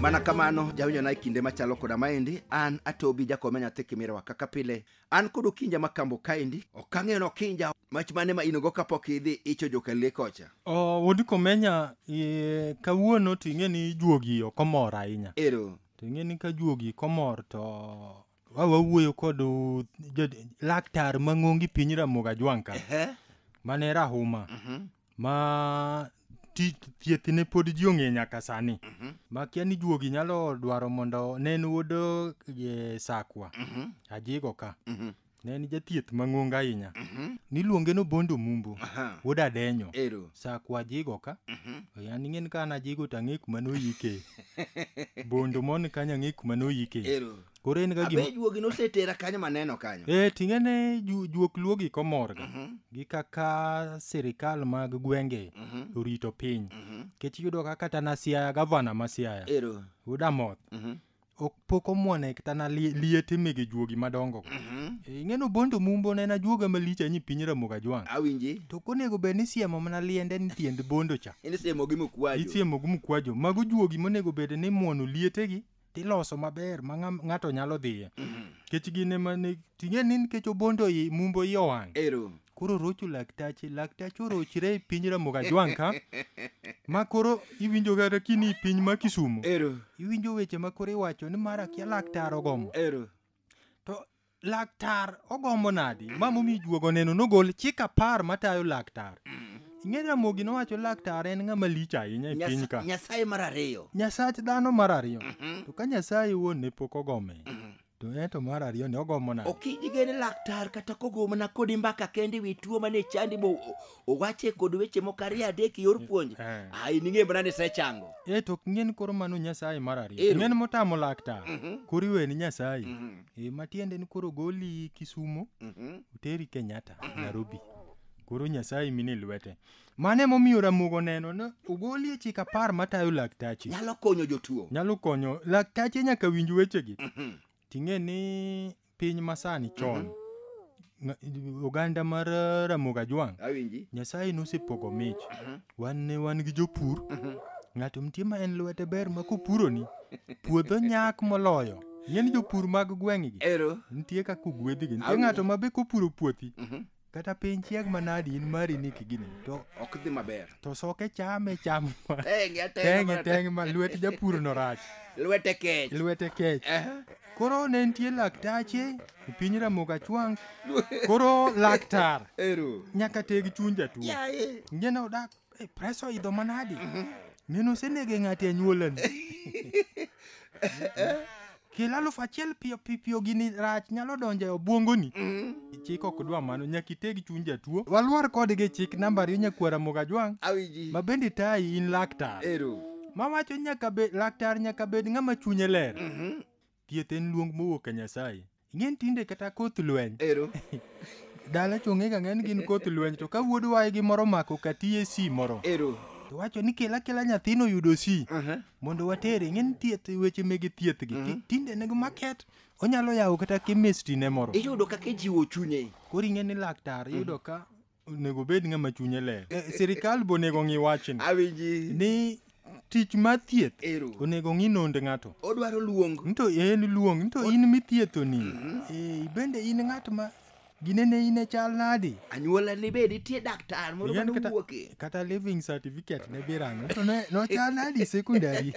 mana kamano jawinjo na e kinde machalo koda maendi an atobi jakome nyathi kimirewa kaka pile an kod okinja makambo kaendi ok ang'eyo ni okinja mach mane ma inogo kapok idhi icho jokalie kocha O, wuod komenya e, kawuono to ing'e ni juogi ok omor ahinya ero to ing'e ni ka juogi komor to Wa- wawuoyo kod uh, jo- laktar mang'ongi piny ramoga jwang' ka Ehe. mane rahuma Mhm. ma ti- thiethne pod ji ong'e nyaka sani Mhm. makia ni juogi nyalo dwaro mondo ne en wuod eh, sakwa Mhm. ajigo ka Mhm. ne en jathieth mang'ongo ahinya Mhm. niluonge no bondo mumbo Aha. wuod adenyo Ero. sakwa ajigo ka Mhm. yani ing'en ka an ajigo to ang'e kuma noyike bondo mon kanyo ang'e kuma noyike Ero. koro en ga gima abe juogi nosetera kanyo maneno kanyo e ting'e ne ju- juok luogi komorga Mhm, gi kaka sirikal mag gwenge mhm, orito piny mhm. kech yudo ka kata na siaya gavana ma siaya ero udamoth Mhm, ok pok omwone kata na lie- liete mege juogi madongo go. mhm. E, ing'eno bondo mumbo ne na juoga malich anyi piny ramoga jwang awinji to konego bed ni siemo mana liende ni tiend bondo cha in siemogi mokwajo isiemo gi mkwajo mago juogi monego bed ni mwono lietegi tiloso maber ma ng'a- ng'ato nyalo dhiye kech gin ema ne ting'e ni nikech obondo i mumbo i owang' ero koro rocho laktache laktache orochre e piny ramoga jwang' ka ma koro iwinjo kata kini i piny ma kisumo ero iwinjo weche ma koro iwacho ni mar akia laktar ogomo ero to laktar ogombo nadi ma momi juogo neno nogol chik apar matayo laktar ing'e ramogi nowacho laktar en ng'ama lich ahinya e piny ka nyasaye mar ariyo nyasach dhano mar ariyo mhm. to ka nyasaye wuon ne pok ogome mhm. to en to mar ariyo ne ogomo nade ok idigene laktar kata kogo mana kodi mbaka kende wi tuo mane chandi bo owache kod weche moko ariyo adek e yor puonj Eh. ah, in ing'e mana ni isechango e to ok ng'en koro mano nyasaye mar ariyo Ero. ng'en motamo laktar Mhm. koro iweni nyasaye Mhm. e matiende ni koro goli kisumo Mhm. uteri kenyatta nairobi koro nyasaye mine lwete mano emomiyo ramogo neno ni ogoli e chik apar matayo laktache nyalo konyo jotuo nyalo konyo laktache nyaka winj wechegi Mhm. ting'e ni piny masani chon mm -hmm. oganda mar eh, ramoga jwang nyasaye nosepogo mich mm -hmm. wan ne wan gi jopur mm -hmm. ng'ato mtie ma en lwete ber ma kopuroni puodho nyak moloyo ng'eni jopur mag gweng'gi nitie kaka ogwedhigi nitie ng'ato ma be kopuro puothi mhm. kata piny chieg manadi in mari ni kigini to ok dhi maber to soke chame cham tenge tenge tenge ma lwet japur no rach lwete kech lwete kech koro ne nitie laktache e piny ramoga chwang koro laktar nyaka teg chuny jatuo ngene odak Eh, Pres oidho manadi? Neno osenege ng'ati e nyuolani. Kilo aluf achiel piyo pi- piyo gini rach nyalo donjo e obwongoni. Chik ok dwa mano, nyaka iteg chuny jatuo. Walwar kodgi e chik namba ariyo nyakwara Mogajwang'. Awinji. Ma bende tayi in laktar. Ero. Ma wacho nyaka be laktar nyaka bed ng'ama chunye ler. Thieth en luong mowuok ka Nyasaye. Ing'e ni tinde kata koth lweny Ero. dala chong'ega ng'eny gin koth lweny to ka wuod waygi moro mako katiye si moro Ero. to wacho ni kela kela nyathino yudo si Aha. mondo watere ing'e ni thieth weche mege thieth gi ti- tinde nego maket onyalo yawo kata chemistry ne moro Iyudo kaka ijiwo chunye. koro ing'e ni laktar iyudo ka onego bed ng'ama chunye ler eh, sirikal be onego ng'i wachni ni tich mar thieth onego ng'i nond ng'ato odwaro luong nto en luong nto in mithiethoni mhm. eh, ibende in ng'at ma ginene in e chal nadi anyuola ni be nitie daktar moro mane owuoke kata living certificate ne birango to ne no chal nadi secondary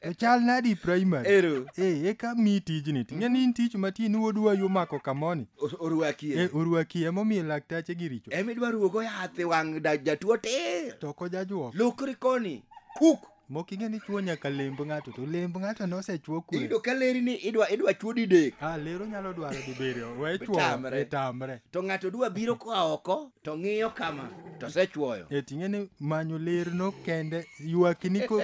to chal nadi primary ero eh eka mi tijni ting'e ni in tich matin wuodwa yo mako kamoni O- orwakie Eh, orwaki emomiyo laktache gi richo ema idwa ruogo yath e wang' da- jatuo tir to ko jajuok lokri koni kuk moking'e ni chuo nyaka lemb ng'ato to lemb ng'ato nosechuo kwe iyudo ka leri ni idwa idwa chuo didek ah lero nyalo dwaro dibiriyo we chuo Tamre. e tamre to ng'ato dwa biro koa oko to ng'iyo kama to osechuoyo e ting'e ni manyo ler no kende ywakini ko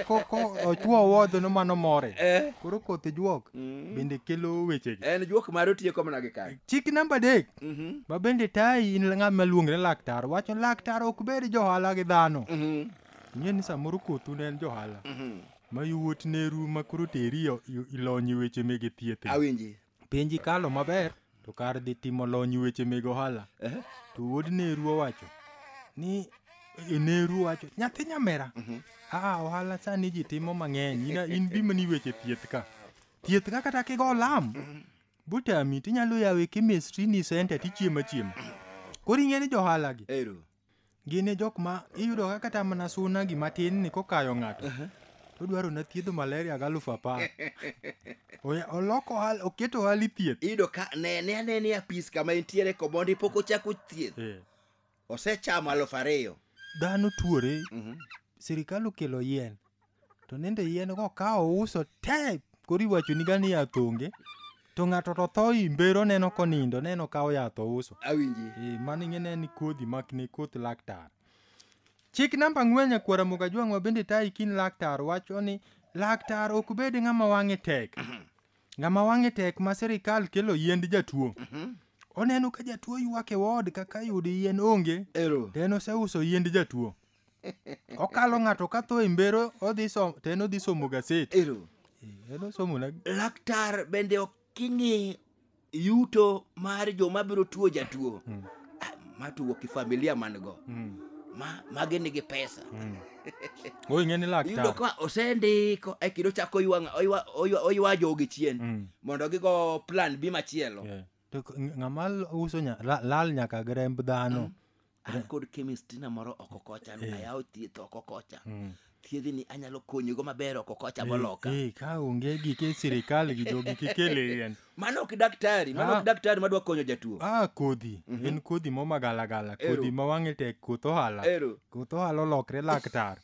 ochuo wodho no mano more eh. koro koth juok mm. bende kelo wechegi en juok mare otieko mana gi kae chik namba adek mm-hmm. ma bende tayi in ng'ama luongre laktar wacho laktar ok bed johala gi dhano mm-hmm. ing'e ni samoro kothu ne en johala mm-hmm. ma yowuot neru ma koro teri ilonye weche mege thieth awinji penji kalo maber to kar dhi timo lony weche meg ohala Ehe. to wuod neru owacho ni e, neru wacho nyathi nyamera aa ohala sani ji timo mang'eny ina in bima ni weche thieth ka thieth ka kata kigo olam butami tinyalo yawe chemistry ni center tichiemo achiema koro ing'e ni johalagi Ero. Gin e jok ma iyudo ka kata mana suna gima tin ni kokayo ng'ato. To dwaro na thiedho malaria ga alufu apar. Oya- Oloko ohal- oketo ohali thieth. iyudo ka ne ne ane ni apis kama entiere komondi pok ochako thieth Eh, osechamo alufu ariyo Dhano tuore. Mhm. Sirikal okelo yien. to nende yien go ka ouso te koro iwachoni gani yath onge to ng'ato to tho imbero neno konindo neno ka oyath ouso awinji Eh, mano ing'e ne ni kodhi mak ne koth laktar chik namba ang'wen nyakwara muga jwang'wa bende tayi kin laktar wacho ni laktar ok bed ng'ama wang'e tek ng'ama wang'e tek ma sirikal kelo yiend jatuo oneno ka jatuo ywak e wod kaka yudo yien onge ero to en oseuso yiend jatuo Okalo ng'ato ka tho e mbero odhi somo to en odhi somo gaset. Ero. Eh, En osomo na Laktar bende ok ing'i yuto mar joma biro tuo jatuo. Mm. Ah, Ma tuo kifamilia man go. Mm, Ma magi nigi pesa. mm. Oi ng'e ni Iyudo laktar. ka osendiko e kendo chako oywa ng'a- oywa- oywa- oywa jogi chien Mm, mondo gigo plan B machielo. yeah. To k- ng- ng'ama l- uso nya- la- lal nyaka gi remb dhano. an kod chemistry na moro oko kocha eh. ayawo thieth oko kocha hmm. thiedhi ni anyalo konyigo maber oko kocha eh, moloka eh, ka onge gike sirikal gi jogi kikele yan mano ok daktari mano ok ah. daktari madwa konyo jatuo ah kodhi mhm. en kodhi momagalagala kodhi ma wang'e tek koth ohala koth ohala olokre laktar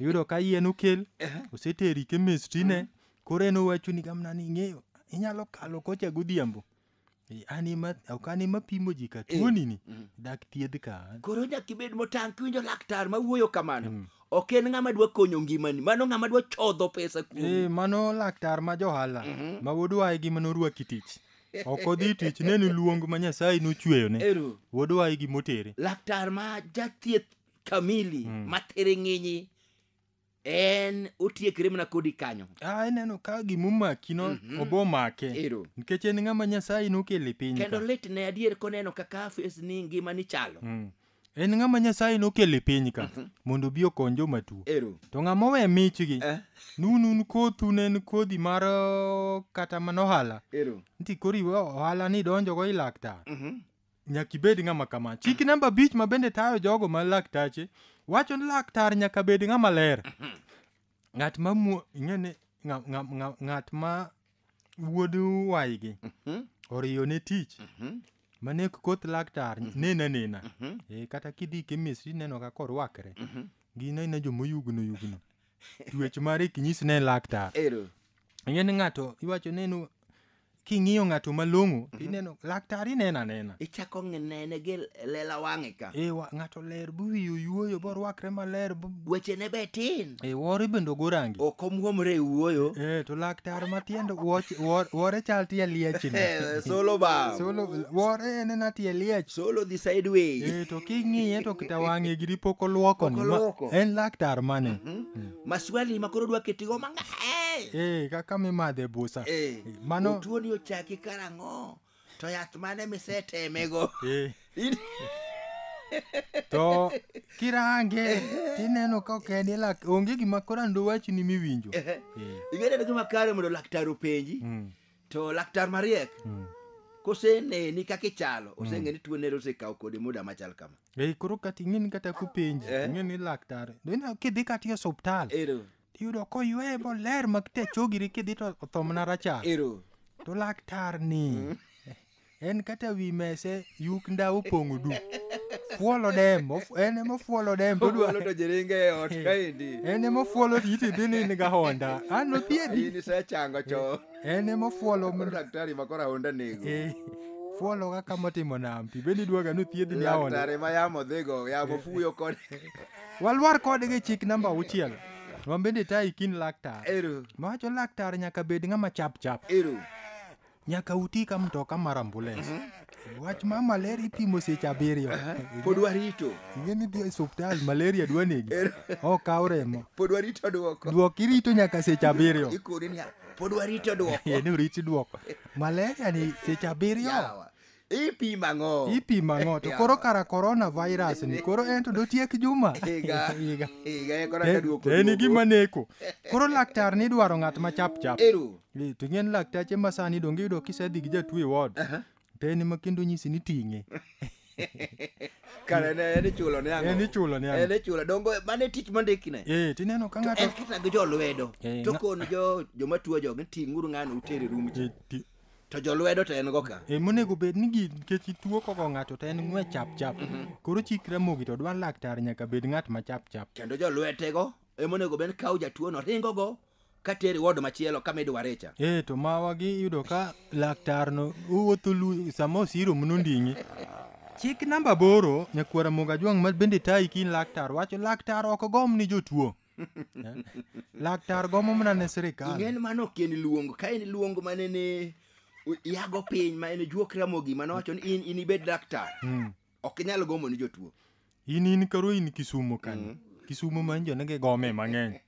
iyudo ka yien okel oseteri chemistry ne mhm. koro en owacho ni gamna ni ing'eyo inyalo kalo kocha godhiambo Eh, An ema ok an ema pimo ji ka tuoni ni dak thiedh ka an. koro nyaka ibed motang' kiwinjo laktar ma wuoyo kamano ok en ng'ama dwa konyo ngimani mano ng'ama dwa chodho pesa kuomi Eh, mano laktar ma johala ma wuodwa e gima norwaki tich. Ok odhi tich ne ni luong ma Nyasaye nochweyone. Ero. Wuodwa e gima otere. laktar ma jathieth kamili ma thiring'inyi en otiekre mana kodi kanyo Ah, ineno ka gimomaki no Mhm. obo make ero nikech en ng'ama nyasaye nokele piny kendo ka. lit ne adier koneno kaka afis ni ngima ni chalo Mm. en ng'ama nyasaye nokele piny ka Mhm. mondo obi okony joma tuo ero to ng'ama owe michgi Eh. nun un kothu ne en kodhi mar uh, kata mana ohala ero nti koro iwe ohala ni donjogo i laktar Mhm. nyaka ibed ng'ama kama. Chik namba abich ma bende tayo jogo ma laktache wacho ni laktar nyaka bed ng'ama ler. Ng'at ma mu- ing'e ni ng'a- ng'a- ng'a- ng'at ma wuod waygi oriyo ne tich mane koth laktar nena nena Eh, kata kidhi kemistri ineno kaka orwakre gin aina jomoyugno yugno tuech mare kinyis ne laktar Ero. ing'e ni ng'ato iwacho ni en king'iyo ng'ato malong'o mm -hmm. ineno laktar ineno anena ichako nene gi lela wang'e ka e wa, ng'ato ler buwiyo yuoyo borwakre maler wechene be tin e wore bende ogorangi ok omwomre e wuoyo e to laktar matiende wore chal tie liechni e, solo ba solo wore en ena tie liech solo dhi sideway e to king'iye to kita wang'e giri pok olwoko en laktar mane mm -hmm. mm. maswali ma koro dwa ketigo mang'eny Eh, kaka mimadhe busa. Eh, Eh, Mano otuoni ochaki karang'o to yath mane misetemego eh, In- to kirange tineno ka ok en ilak onge gima koro ando wachni miwinjo. Eh, ing'eyo ni gima kare mondo laktar openji Mm. to laktar mariek Mm. koseneni kaka ichalo oseng'e ni tuo nere osekawo kode muda machal kama Ei, koro kata ing'eni kata kupenji Eh. ing'e ni laktar dine kidhi kata e osuptal ero iyudo koyweye moler makte chogiri kidhi to otho mana rachar ero to laktar ni en kata wi mese yuk ndawa opong'o du fuolo dem of- en ema fuolo dem to odwa- Ogolo to jiringe e ot kaendi. en ema fuolo to iti dhi ni in ga honda an nothiedhi In isechango cho. en ema fuolo Koro daktari ma koro ahonda nego. Eh, fuolo kaka motimo nam pi bende idwaga ni othiedhi ni ahonda Daktari ma yamo dhigo, yamo fuyo kod walwar kodgi chik namba auchiel wan bende tayi kin laktar eru. mawacho laktar nyaka bed ng'ama chap chap Eru. nyaka uti ka mtoka mar ambulens wach ma malaria ipimo seche abiriyo pod warito ing'e ni dhi e osuptal malaria dwa negi okaw remo pod warito dwoko dwoko irito nyaka seche abiriyo ikone niya pod warito dwoko Ee, ni urit dwoko malaria ni seche abiriyo Yawa. Ipimo ang'o? Ipimo ang'o? To koro kara korona virus ni koro en to dotiek juma. Higa. Higa. Higa e kora ka duoko. En gima neko. Koro laktar ni dwaro ng'at ma chap chap. Eru. Eh, to ng'en laktache ma sani donge yudo kisedhi gi jatuo e ward. To en ema kendo nyisi ni ting'e. Kare ne en ichulo ne ang'o? En ichulo ne ang'o? En ichulo. Dongo mane tich mondikine. Eh, tineno ka ng'ato. En kisa gi jo lwedo. Eh, to kon jo joma tuo jogi ting'uru ng'ano utere rum. Eh, to jolwedo to en go ka e monego bed ni gi nikech ituo koko ng'ato to en ng'we chap chap koro chik ramogi to dwa laktar nyaka bed ng'at ma chap chap kendo jolwetego e monego bed kawo jatuono ringogo ka teri wod machielo kama idware cha e to mawagi iyudo ka laktarno owuotho lu sama osiro mno nding'i chik namba aboro nyakwara moga jwang' ma bende tayi kin laktar wacho laktar ok gom ni jotuo laktar gomo mana ne sirikal ing'en mano ok en luongo ka en luongo mane ne u- yago piny ma en juok ramogi mano wacho ni in in ibed laktar Mm. ok inyal gomo ni jotuo in in koro in kisumo kanyo kisumo ma injo nege gome mang'eny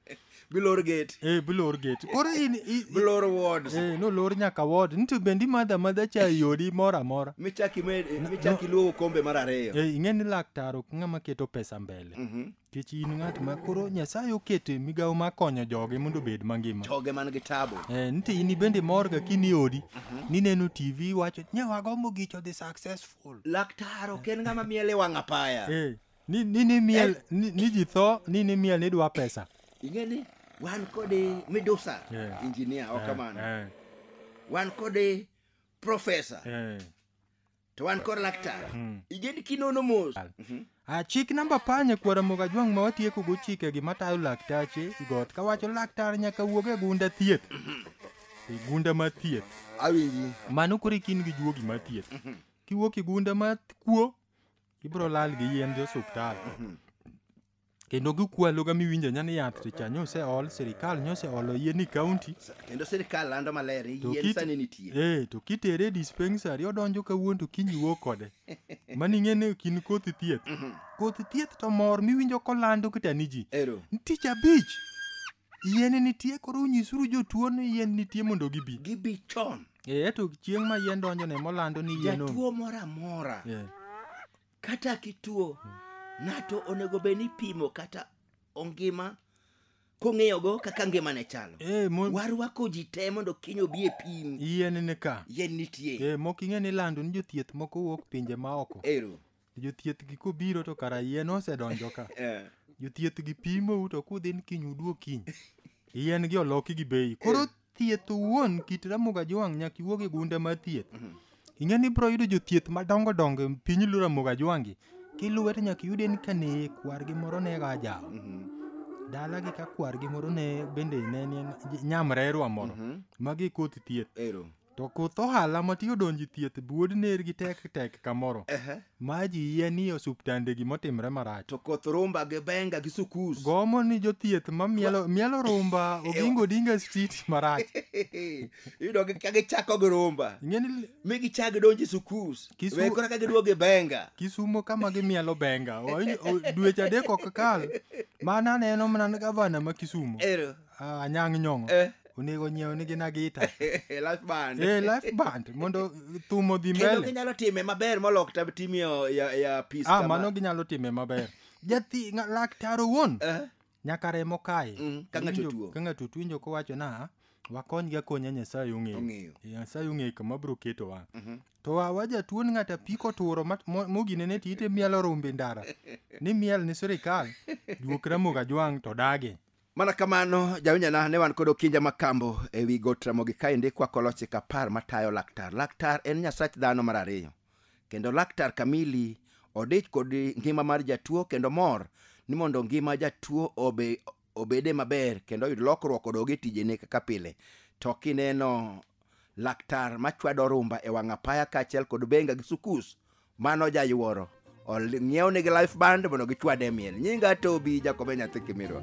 bilor gate e bilor gate koro in i- bilor wards e nolor nyaka wod nito bendi madha madha cha yodi moro amora michaki med michaki luogo kombe mar ariyo e ing'e ni laktar ok ng'ama keto pesa mbele Mhm. Kech in ng'at ma koro Nyasaye oketo e migawo mar konyo joge mondo obed mangima. Joge man gi tabu. Eh, nite in bende mor ga kini odi, mhm. nineno TV wacho ni wagombo gicho the successful. Laktar ok en ng'ama miel e wang' apaya. Eh, ni ni ni miel eh. ni, ni ji tho ni ni miel ni dwa pesa. Ing'e ni wan kod midusa yeah. engineer ok eh, kamano. Yeah. Wan kod professor. Yeah. to wan kod laktar mm. iged kinono mos mhm. a chik namba apar nyakwar amoga jwang' ma watieko go chikegi matayo laktache got kawacho laktar nyaka wuog e gunda thieth mhm. e gunda ma thieth awinji mano koro ikin gi juogi ma thieth mhm. kiwuok e gunda ma kuo ibro lal gi yien jo osuptal kendo gikwalo ga miwinjo nya ni yath to cha nyose ol sirikal nyose olo yie ni county kendo sirikal lando maler To yien kit- sani nitie eh to kitere e dispensary odonjo kawuono to kiny wuok kode mani ing'e ni kin koth thieth koth thieth to mor miwinjo kolando kata ni ji ero tich abich yien nitie koro unyisuru jotuo ni yien nitie mondo gibi gibi chon eh to chieng' ma yien donjo ne molando ni yien onge jatuo moro amora eh kata kituo ng'ato onego bed ni pimo kata ongima kong'eyogo kaka ngimane chalo Eh, mo- warwako ji te mondo kiny obi e pim yien ni ka yien nitie Eh, mok ing'e ni lando ni jothieth moko wuok pinje ma oko ero jothieth gi kobiro to kara yien osedonjo ka Eh, jothieth gi pimou to kudhi ni kiny uduog kiny yien gi oloki gi bei koro thieth owuon kit Ramogi Ajwang' nyaka iwuog e gunda mar thieth. Mhm. Ing'e ni ibiro yudo jothieth madongo dongo e piny luo Ramogi Ajwang'gi. Kiluwe to nyaka iyude ni kane kwargi moro ne ga jawo. Mhm. Dalagi ka kwargi moro ne bende ne ni nyamrerwa moro. Mhm. Magi koth thieth. Ero. To koth ohala ma tiyo donjo e thieth buod ner gi tek tek kamoro. Ehe. Ma ji yie ni osuptande gimotimre marach. To koth rumba gi benga gi sukus. Gomo ni jothieth ma mielo, mielo rumba ogingo dinga street marach. Iyudo gi ka gichako gi rumba. Ing'e ni Mi gichak gidonji sukus. Kisu- We kora ka giduogo gi benga. Kisumo kama gimielo benga. O- o- Dweche adek ok kal. Mana neno mana gavana ma Kisumo. Ero. Ah, anyang' nyong'o Eh. onego nyiew nigi na gita Eh, life band eh, life band mondo thum odhi kendo mbele ginyalo time maber molok tab tim ya, ya, ya peace ah, kama. mano ginyalo time maber jathi nga- laktar owuon Eh, nyaka remo kae Mm, ka ng'ato Winjo- tuo. ka ng'ato tuo winjo kowacho na wakonygi akonya nyasaye ong'eyo Ong'eyo. nyasaye ong'eyo kama bro ketowa Mhm. to wa- wajatuo ni ng'ata piko turo mat- mo- moginene ti ite mielo rumbi ndara ni miel ni sirikal juok ramoga jwang' to dage Mana kamano, jawinjana ne wan kod okinja ma kambo e wi got Ramogi kaendi kwakolo chik apar matayo laktar. Laktar en nyasach dhano mar ariyo. Kendo laktar Kamili odich kod ngima mar jatuo kendo mor ni mondo ngima jatuo obe, obede maber kendo oyud lokruok odog e tijene kaka pile. To kineno laktar machwado rumba e wang' apaya kaachiel kod benga gi sukus, mano jayuoro Ol- ng'iew nigi life band mondo gichwade e miel nyinga tobi jakobe nyathi kimirwa